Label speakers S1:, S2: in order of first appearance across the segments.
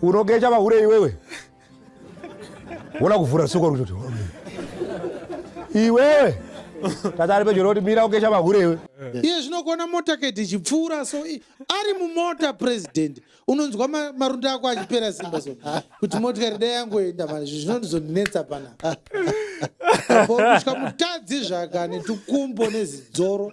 S1: Unogeja mahure iwewe. Wona kuvhura soko kuti iwewe tata ari pedyo roti mira ugeja mahure iwe. Iye zvinokuona
S2: motorcade ichipfuura so i- ari mumota president unonzwa ma- marunda ako achipera simba so kuti motikari dai yangoenda mani izvi zvinondizondinetsa pana kusvika mutadzi zvaka netukumbo nezidzoro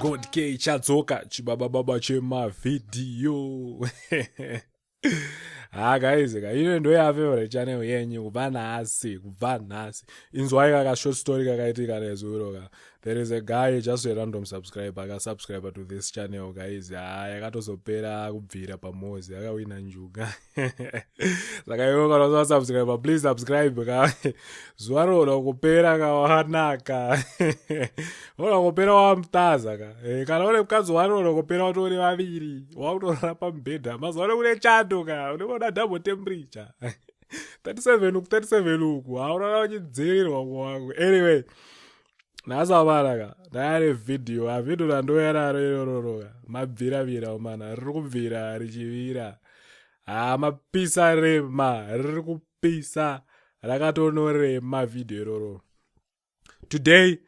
S3: god k chadzoka chibaba baba chemavhidhiyo ha ah, guys ka ino ndo yafavorite channel yenyu kubva nhasi kubva nhasi inzwai kaka short story kakaitika nezuro ka there is a guy just a random subscribe akasubscribe to this channel guys ha ah, yakatozopera kubvira pamozi akawina njuga saka iwe kana usava subscribe please subscribe ka zuva rinoda kupera ka wanaka unoda kupera wamutaza ka eh, kana une mukadzi wani unoda kupera watori vaviri wakutorara pamubhedha mazuva ano kune chando ka unenge uda double temperature 37 uku 37 uku haurara uchidzivirirwa kuwangu anyway nasavaraka naare vhidhiyo avhidho randoyararo irororoka mabviravira omana riri kubvira richivira haa mapisa rema riri kupisa rakatonorema vhidhiyo iroro today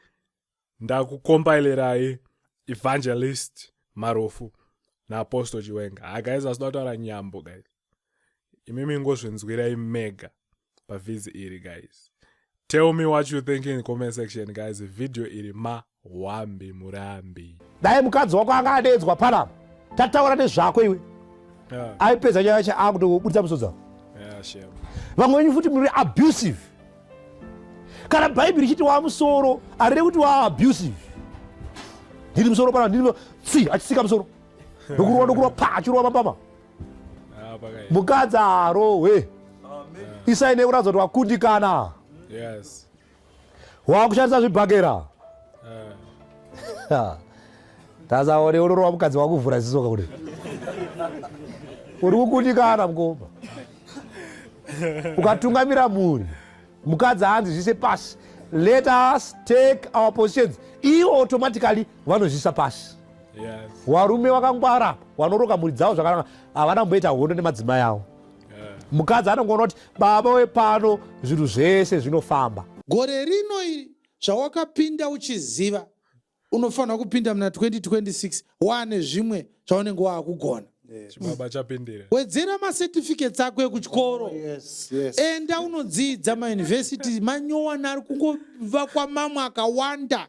S3: ndakukompailerai evangelist marofu naapostle chiwenga hagaizi asida kutaura nyambo gaizi imimi ngozvinzwirai mega pavhizi iri guys tell me what you think in comment section guys video iri mahwambi murambi dai mukadzi wako
S1: anga adeedzwa panapa tataura nezvako iwe yeah. aipedza nyaya yacho akutobudisa musodza yeah, sure.
S3: vamwe venyu futi
S1: muri abusive kana bhaibheri richiti waa musoro arire kuti waa abusive ndiri musoro panapa ndiri tsi achisika musoro ndokurova ndokurova pa achirova mambama mukadzi arohwe isai nekuratiza kuti wakundikana wakushandisa zvibhakera ah. tasaone unorova mukadzi wakuvhura zisoka kuti uri kukundikana mukoma ukatungamira mhuri mukadzi hanzi zvise pasi let us take our positions ivo automatically vanozvisa pasi
S3: warume wakangwara
S1: wanoroka mhuri dzavo zvakanaka havana kumboita hondo nemadzimai avo mukadzi anongoona kuti baba wepano zvinhu zvese zvinofamba gore rino
S2: iri zvawakapinda uchiziva unofanira kupinda muna 2026 waane zvimwe zvaunenge waakugona chibaba
S3: chapindira wedzera macertificates
S2: ako ekuchikoro enda unodzidza mayunivhesiti manyowani ari kungovakwa mamwe akawanda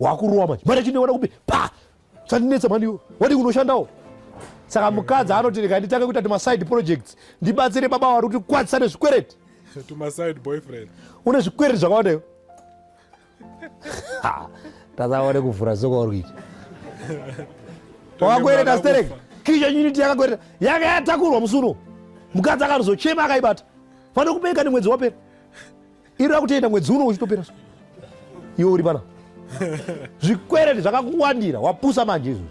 S1: wakurowa manje mari chindiwana kupi pa sandinetsa mhani iwe wadi kunoshandawo saka mukadzi anoti rega nditange kuita tumaside projects ndibatsire baba wari kuti kwadzisa nezvikwereti tumaside
S3: boyfriend une zvikwereti
S1: zvakawanda iwe tasaone kuvhura soko wari kuita wakakwereta sterek kisha unity yakakwereta yanga yatakurwa musuno mukadzi akanozochema akaibata fanira kubeeka nemwedzi wapera iri rakutoenda mwedzi uno uchitopera so iwe uri pana zvikwereti zvakakuwandira wapusa manje izvozvi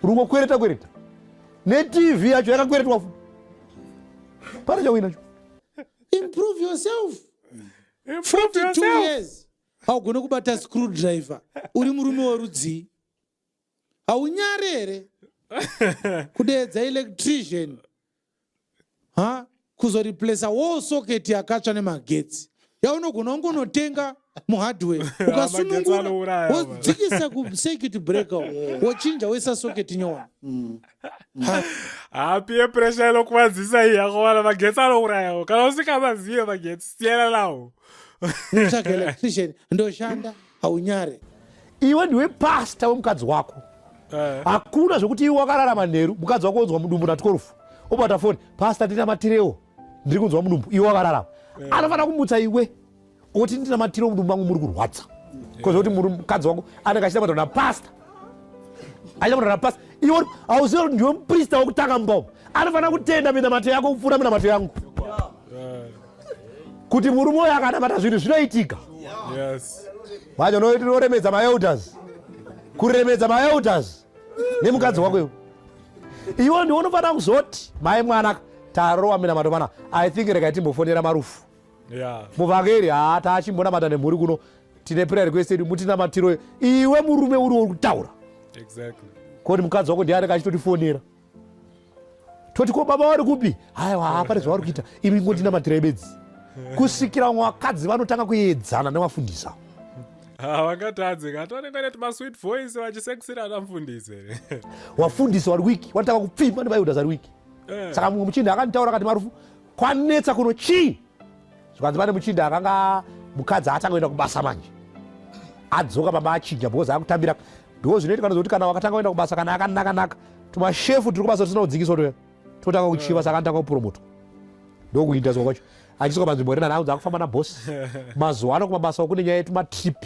S1: uri kukwereta kwereta netv yacho yakakweretwa fu pana chauinacho improve
S2: yourself 42 years haugone kubata screw driver uri murume werudzii haunyari here kudeedza electrician ha kuzoreplacea wall socket yakatsva nemagetsi yaunogona ungonotenga muhardware ukasunungura wodzikisa kucircuit breaker wochinja woisa socket nyowani mm.
S3: hapie pressure inokuvadzisa iyi akovana magetsi anourayawo kana usingamazive magetsi siyana nawo
S1: ndoshanda
S2: haunyare
S1: iwe
S2: ndiwe
S1: pasta wemukadzi
S2: wako
S1: eh. hakuna zvekuti iwe wakararama nheru mukadzi wako onzwa mudumbu na 12 obata foni pasta ndinamatirewo ndiri kunzwa mudumbu iwe wakararama eh. anofanira kumutsa iwe oti ndinamatirewo mudumbu mangu muri kurwadza kozi kuti mukadzi wako anenge achita kutaura napasta achita kutaura napasta iwe hauziva kuti ndiwe muprista wekutanga mumba umu anofanira kutenda minamato yako kupfuura minamato yangu kuti murume uyo akanamata zvinhu zvinoitika manje unoremedza maelders kuremedza maelders nemukadzi wako iwo iwo ndiwo unofanira kuzoti mai mwana tarowa minamato mana i think rekai timbofonera marufu muvhangeri haa taachimbonamata nemhuri kuno tine prayer request yedu mutinamatiro iwe murume uriwo kutaura koti mukadzi wako ndiani kachitotifonera toti ko baba vari kupi haiwa hapane zvavari kuita imi ingotinamatirai bedzi kusvikira vamwe vakadzi vanotanga kuedzana nevafundisi avo havangatadzi
S3: ngati vanenge vane tumasweet voice vachisexira ana mfundisi here wafundisi
S1: wari wiki wanotanga kupfimba nebayudas ari wiki eh. saka mumwe muchinda akanditaura akati marufu kwanetsa kuno chii zvikanzi pane muchinda akanga mukadzi atanga kuenda kubasa manje adzoka pamba achinja because akutambira ndo zvinoitika ndozokuti kana wakatanga kuenda kubasa kana akanaka naka tumashefu tiri kubasa tisina kudzikiswa toya totanga kuchiva saka anotanga kupromotwa ndokuinda zwa kwacho achisoka panzvimbo rinana aunza akufamba nabosi mazuva ano kumabasa kune nyaya yetumatrip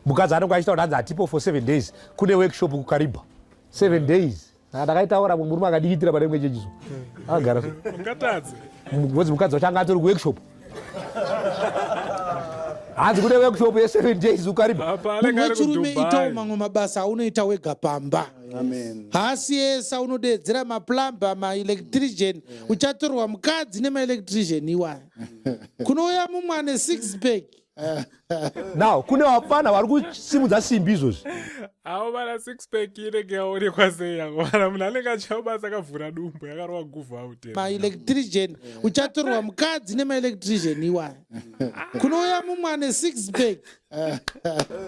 S1: mukadzi anenge achita kuti anzi atipo for seven days kune workshop kukaribha seven days ndakaitaura mumwe murume akadikitira pane imwe chechizo agara ngozi mukadzi wacho anga atori kuworkshop hanzi kune workshop yeseven days ukaribamuchirume
S2: itawo mamwe mabasa aunoita wega pamba haasi yese aunodeedzera maplumber maelectrician uchatorwa mukadzi nemaelectrician iwaya kunouya mumwe ane six pack
S1: now kune vapfana vari kusimudza simbi izvozvi avo vana
S3: six pack inenge yaonekwa sei yango vana munhu anenge achiva basa akavhura dumbu yakarova guvha aute maelectrician
S2: uchatorwa mukadzi nemaelectrician iwaya kunouya mumwe ane six pack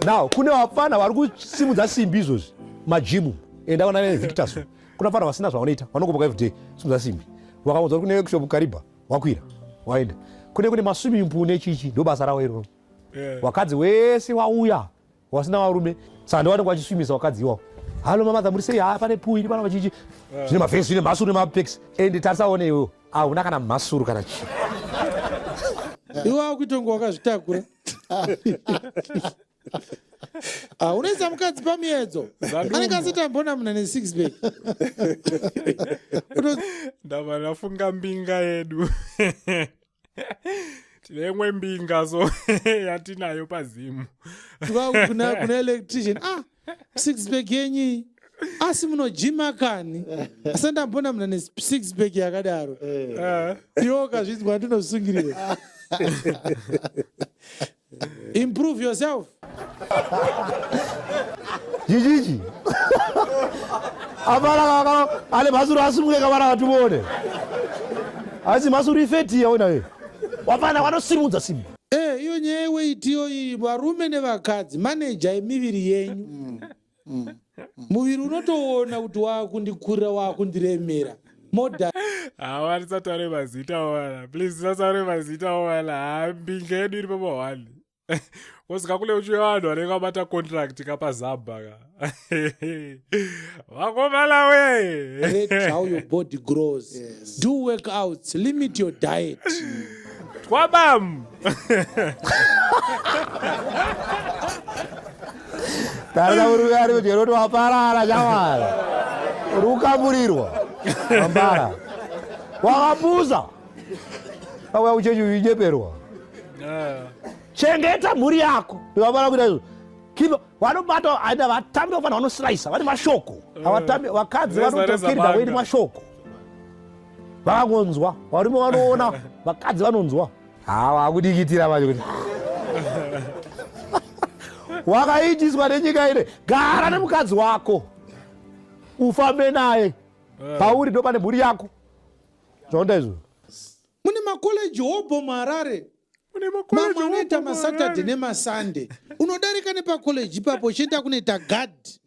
S1: now kune vapfana vari kusimudza simbi izvozvi majimu enda kona nevictorso kuna fana vasina zvavanoita vanokuboka everyday simudza simbi vakaunza uri kune workshop kariba wakwira waenda kune kune maswimming pool nechichi ndo basa rawo iroro yeah. wakadzi wese wauya wasina varume saka ndiwanenge wachiswimisa wakadzi iwawo halo mamadha muri sei haa pane pool iri pana vachichi yeah. zvine mavhesi zvine mhasuru nemapex and tarisaone iwewo ahuna kana mhasuru kana chii
S2: iwe akuitonga wakazvitakura Ah, unoisa mukadzi pamiedzo anenge asitambona muna nesix bag ndava ndafunga
S3: mbinga yedu tine imwe mbinga so yatinayo pazimu kuna
S2: kuna electrician ah six bag yenyi asi munojima kani asi ndambona muna nesix bag yakadaro eh. iwo kazvinzwa ndinosungirira Improve yourself.
S1: Jijiji. Abala kaka ale mazuru asumuke kabara watu bone. Asi mazuru ifeti ya ona we. Wapana wanosimudza simu. Eh, iyo nyaya
S2: yeweiti iyo iyi varume nevakadzi maneja yemiviri yenyu. Mm. mm. mm. muviri unotoona kuti waakundikurira waakundiremera moda hawa
S3: tisataure mazita wana please tisataure mazita wana hambinga yedu iri papa one kosika kule uchiwe vanhu vanenge vabata contract kapazabha ka vakomana we how your
S2: body grows yes. do work outs limit your diet twabam
S1: tarira murume ari kudya kuti waparara nyamara uri kukaburirwa ambara wakapuza auya kuchechi uinyeperwa chengeta mhuri yako ndivabara kuita izvo kiva vanobata aida vatambi vafanira vanosirayisa vane mashoko avatambi vakadzi vanotokirida kuiti mashoko vakangonzwa varume vanoona vakadzi vanonzwa haa wakudikitira manje kuti wakaitiswa nenyika ine gara nemukadzi wako ufambe naye eh. pauri ndo pane mhuri yako zvaonda izvo mune
S2: makoleji hobho muharare mamwe anoita masaturday nemasunday unodarika nepakoleji ipapo uchienda kunoita gadhi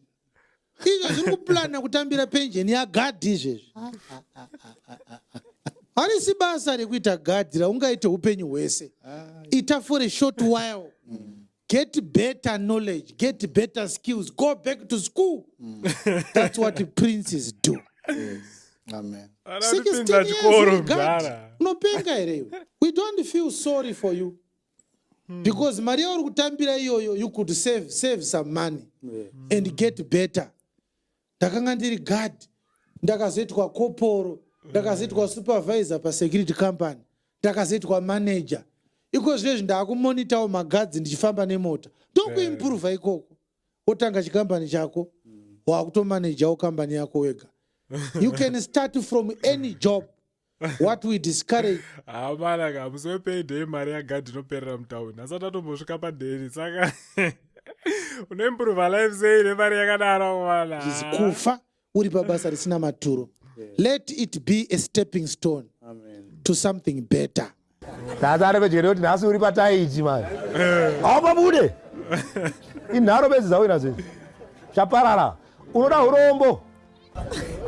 S2: izvo zviri kuplana kutambira penjeni yagadhi izvezvi harisi basa rekuita gadhi raungaite upenyu hwese ita for a short while get better knowledge get better skills go back to school that's what princes do
S4: Amen. Ana Sixteen anopinda years
S2: chikoro you got. mdara. unopenga here iwe we don't feel sorry for you Hmm. because mari yauri kutambira iyoyo you could save, save some money yeah. and get better ndakanga ndiri guard ndakazoitwa koporo ndakazoitwa supervisor pasecurity company ndakazoitwa manager iko zvinezvi ndaakumonitawo magadzi ndichifamba nemota ndokuimprova ikoko wotanga chikambani chako hmm. wakutomanajawo kambani yako wega you can start from any job what we discourage hamana ka
S3: musi wepayday mari yagadhi inoperera mutauni asati atombosvika padheri saka unoimprova life sei nemari yakadaro mwana kufa
S2: uri pabasa risina maturo let it be a stepping stone Amen. to something better nhasi areve
S1: jere kuti nhasi uri pataiti mani eh. haupabude inharo bedzi dzawina zvinhu chaparara unoda urombo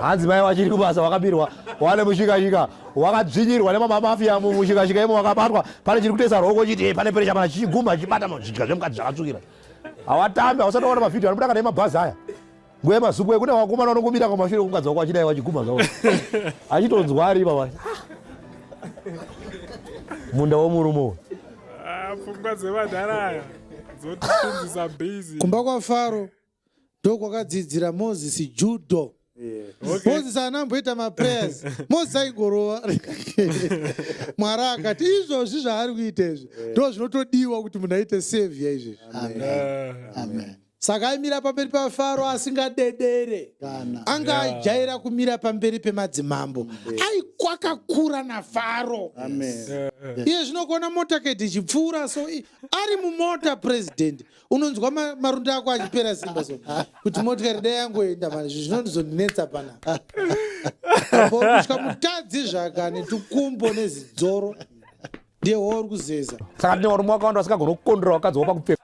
S1: hanzi mai wachiri kubasa wakabirwa wane mushikashika wakadzvinyirwa nemamamafia mushikashika imo wakabatwa pane chiri kutesa roko chiti eh, pane perecha pana chichigumba chichibata zvidya zvemukadzi zvakatsvukira hawatambi hausati waona mavhidhio anobuda kana emabhazi aya Ngwe mazukwe kune wakomana unongomira kwamashure kumukadzi wako achidai wachiguma zvawo. Achitonzwa ari baba. Munda womurume uyu. Ah, pfungwa
S3: dzevadhara aya dzotifundzisa busy. Kumba kwaFaro
S2: ndokwakadzidzira Moses judo. Okay. Moses haana amboita maprayers Moses aingorova Mwari akati izvozvi zvaari kuita izvi ndoo zvinotodiwa kuti munhu aite savior izvezvi Amen. Amen. Amen.
S4: saka aimira
S2: pamberi pafaro asingadedere anga ajaira kumira pamberi pemadzimambo aikwakakura nafaro iye zvino kuona motaketi ichipfuura so ari mumota president unonzwa marunda ako achipera simba so kuti motikari dai yangoenda mani izvi zvinondizondinetsa pana kusvika mutadzi zvaka netukumbo nezidzoro ndiye wauri kuzeza saka ndine varume wakawanda
S1: vasingagona kukondera vakadzi wapakupfeka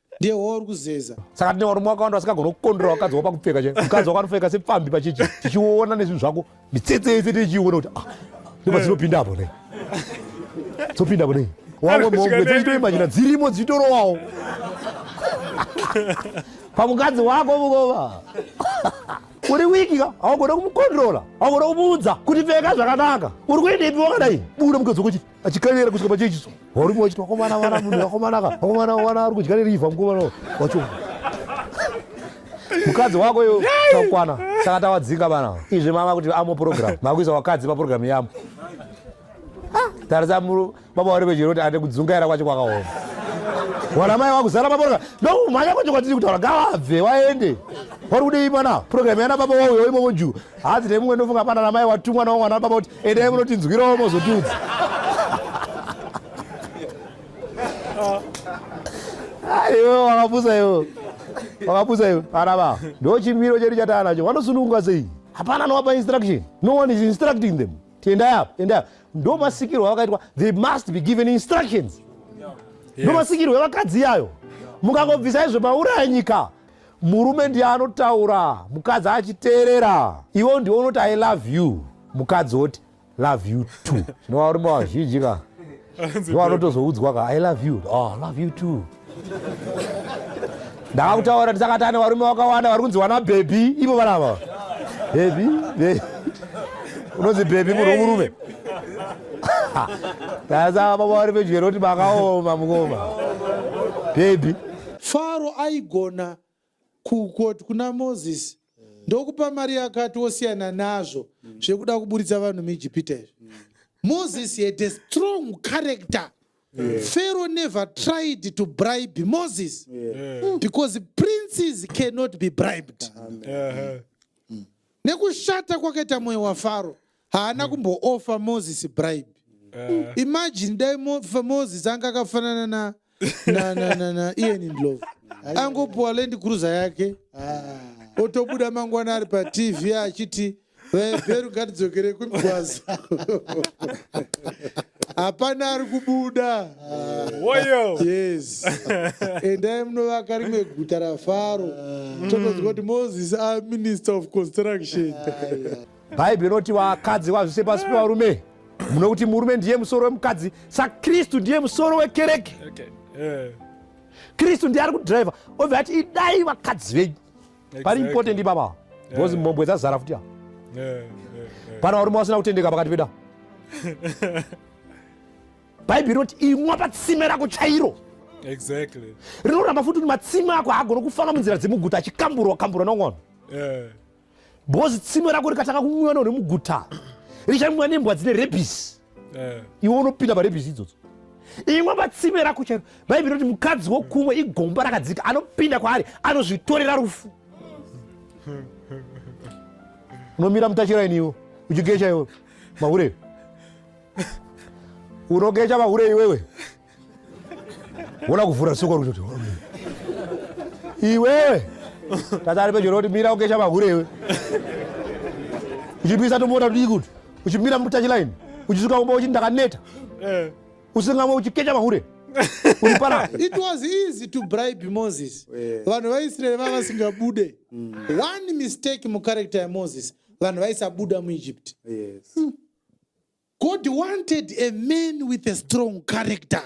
S2: ndiye wo uri kuzeza saka tine varume vakawanda
S1: vasingagona kukondera vakadzi wa pakupfeka chai mukadzi wakanopfeka sepfambi pachichi tichiona nezvinhu zvako mitsetse yese tichiona kuti ah ndipo dzinopinda apo nei dzopinda apo nei wamwe mombe dzechitoimajina dzirimo dzichitorowawo pamukadzi wako mukoma uri wiki ka haugona kumukontrola haugona kumuudza kuti pfeka zvakanaka uri kuendepi wakadai buda mukadzi wokuchiti achikanyera kusvika pachechiso varume vachiti wakomana vana munhu wakomanaka wakomana wana ari kudya nerivha mukomana wacho mukadzi wako iyo takwana saka tawadzinga vana izvi mava kuti amo program makuisa wakadzi paprogram yamo tarisa muru baba wari vechero kuti ande kudzungaira kwacho kwakaoma wana mai wakuzara paprogram ndokumhanya kwacho kwatiri kutaura ngavabve waende wari kudei mwana program yana baba wauyo imomo juu hanzi nemumwe ndofunga pana namai watumwa nawo mwana baba kuti Endai munotinzwirawo mozotiudza. Aiwe wakapusa iwe. Wakapusa iwe. Ana baba. Ndo chimiro chedu chatana nacho. Wanosununguka sei? Hapana anowapa instruction. No one is instructing them. Tiendai apo, endai apo. Ndo masikirwo avakaitwa. They must be given instructions. Ndo masikirwo evakadzi yayo. Mukangobvisa izvo mauraya nyika. murume ndiye anotaura mukadzi achiteerera iwo ndiwo unoti i love you mukadzi oti love you too zvinova varume vazhinji ka ndiwo anotozoudzwa ka i love you oh, love you too ndakakutaura ndisakati ane varume vakawanda vari kunzi wana bhebhi ivo vanava bhebhi unonzi bhebhi munhu womurume sasa baba vari pedyo roti makaoma mukoma bhebhi Faro
S2: aigona kukoti kuna Moses ndokupa mari yakati wosiyana nazvo zvekuda kuburitsa vanhu muEgipita izvi. Moses had a strong character. Pharaoh never tried to bribe Moses because princes cannot be bribed. Nekushata kwakaita mwoyo waFaro haana kumboofa moses bribe mm. imagine dai moses anga akafanana na na na na na ian ndlove angopuwa land cruiser yake ah. otobuda mangwana ari patv achiti vebheru ngatidzokere kumigwaza hapana ari kubuda ah. woyo yes endai munovaka rimwe guta rafaro ah. totoziva kuti moses aminister of construction
S1: bhaibheri inoti vakadzi vazvise pasi pevarume muno kuti murume ndiye musoro wemukadzi sakristu ndiye musoro wekereke okay. yeah. kristu ndiye ari kudriver obva ati idai vakadzi venyu exactly. pari important ipapa because yeah. mhombwe dzazara futi a yeah. yeah. yeah. pana varume vasina kutendeka pakati peda bhaibheri inoti imwa patsime rako chairo exactly.
S3: rinoramba futi kuti
S1: matsime ako haagona kufamba munzira dzemuguta achikamburwa kamburwa nongono yeah. because tsime rako rikatanga kumwiwa no remuguta richamwiwa nembwa dzine rebisi eh. iwe unopinda parebisi idzodzo imwe patsime rako chairo bhaibheri roti mukadzi wokumwe igomba rakadzika anopinda kwaari anozvitorera rufu unomira mutachiraini iwo uchigecha iwe mahure unogecha mahure iwewe wona kuvhura soko rutoti iwewe tata ari pedyo roti mira ukesha mahure iwe uchipisa tomota tudii kuti uchimira mutachilaini uchisuka kumba uchiti ndakaneta eh. usingamwe uchikecha mahure uripara
S2: it was easy to bribe moses eh. vanhu vaisraeri vava vasingabude mm. one mistake mucharacter yamoses vanhu vaisabuda muegypt yes. mm. God wanted a man with a strong character.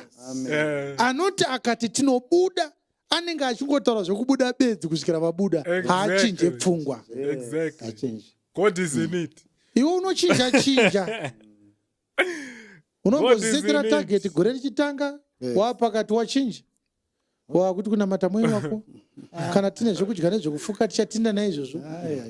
S2: Eh, Anoti akati tinobuda anenge achingotaura zvekubuda bedzi kusvikira vabuda Exactly. haachinje pfungwa. Exactly. Achinje.
S3: God is in it. Iwe unochinja
S2: chinja. Unongozisekera God is in it. target gore richitanga Yeah. wapakati wachinja. wakuti kunamata mwe wako kana tine zvekudya nezvekufuka tichatinda naizvozvo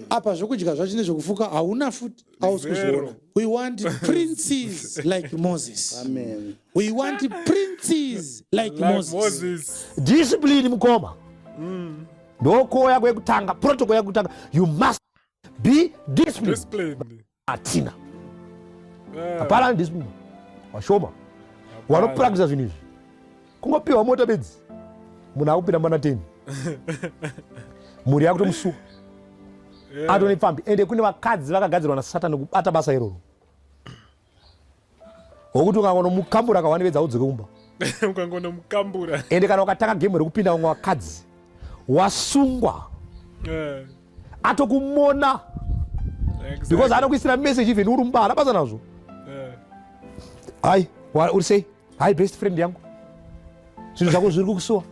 S2: apa zvekudya zvacho nezvekufuka hauna futi ausi kuzviona we want princes like moses Amen. we want princes like, like moses. moses discipline
S1: mukoma mm. ndokoya kwekutanga protocol yakutanga you must be disciplined, disciplined. atina eh. hapana ndisi vashoma wanopurakisa zvinhu izvi kungopiwa mota bedzi munhu akupinda mana 10 mhuri yakutomusuwa eh. atone pfambi ende kune vakadzi vakagadzirwa nasatani kubata basa iroro Ngokuti ukangonomukambura kawani vedza udzoke kumba. Ukangonomukambura.
S3: Ende kana ukatanga
S1: game rekupinda vamwe vakadzi wasungwa. Eh. Atokumona. Exactly. Because anokuisira message even uri mumba hana basa nazvo. Eh. Hai, uri sei? Hai best friend yangu. Zvinhu zvako zviri kukusuwa.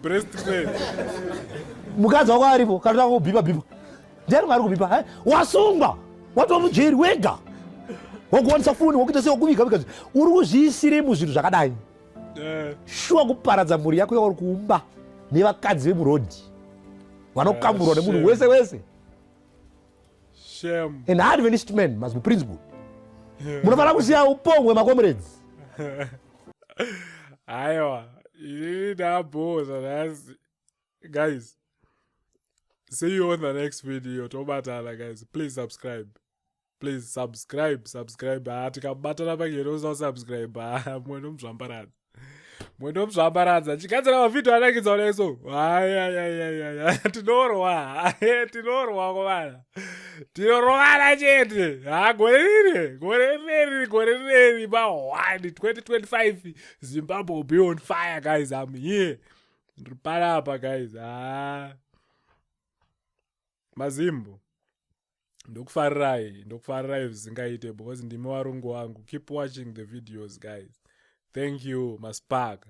S1: Best
S3: friend.
S1: Mukadzi wako aripo kana tanga kubhipa bhipa. ndiani maari kubipa hai wasungwa watova mujeri wega wakuwanisa foni wakuita sei wakuviga viga uri kuzviisirei muzvinhu zvakadai eh. shuwa kuparadza mhuri yako yauri kuumba nevakadzi vemurodhi vanokamburwa ah, nemunhu wese wese
S3: an adventist man
S1: must be principle munofanira kusiya upongwe makomrades
S3: aiwa ini ndabhoza nhasi guys see you on the next video tobatana guys please subscribe please subscribe subscribe ha ah, tikabatana pangeno usasubscribe ha ah, mwe nomuzvambaradza mwe nomuzvambaradza chigadzira mavhidhio anakidza oneso hayayayayaya tinorwa ah, eh, tinorwa kovana tinorovana chete ha gore riri gore riri gore riri ma 1 2025 zimbabwe will be on fire guys am here ndiri parapa guys haa mazimbo ndokufarirai ndokufarirai zvisingaite because ndimi warungu wangu keep watching the videos guys thank you maspaka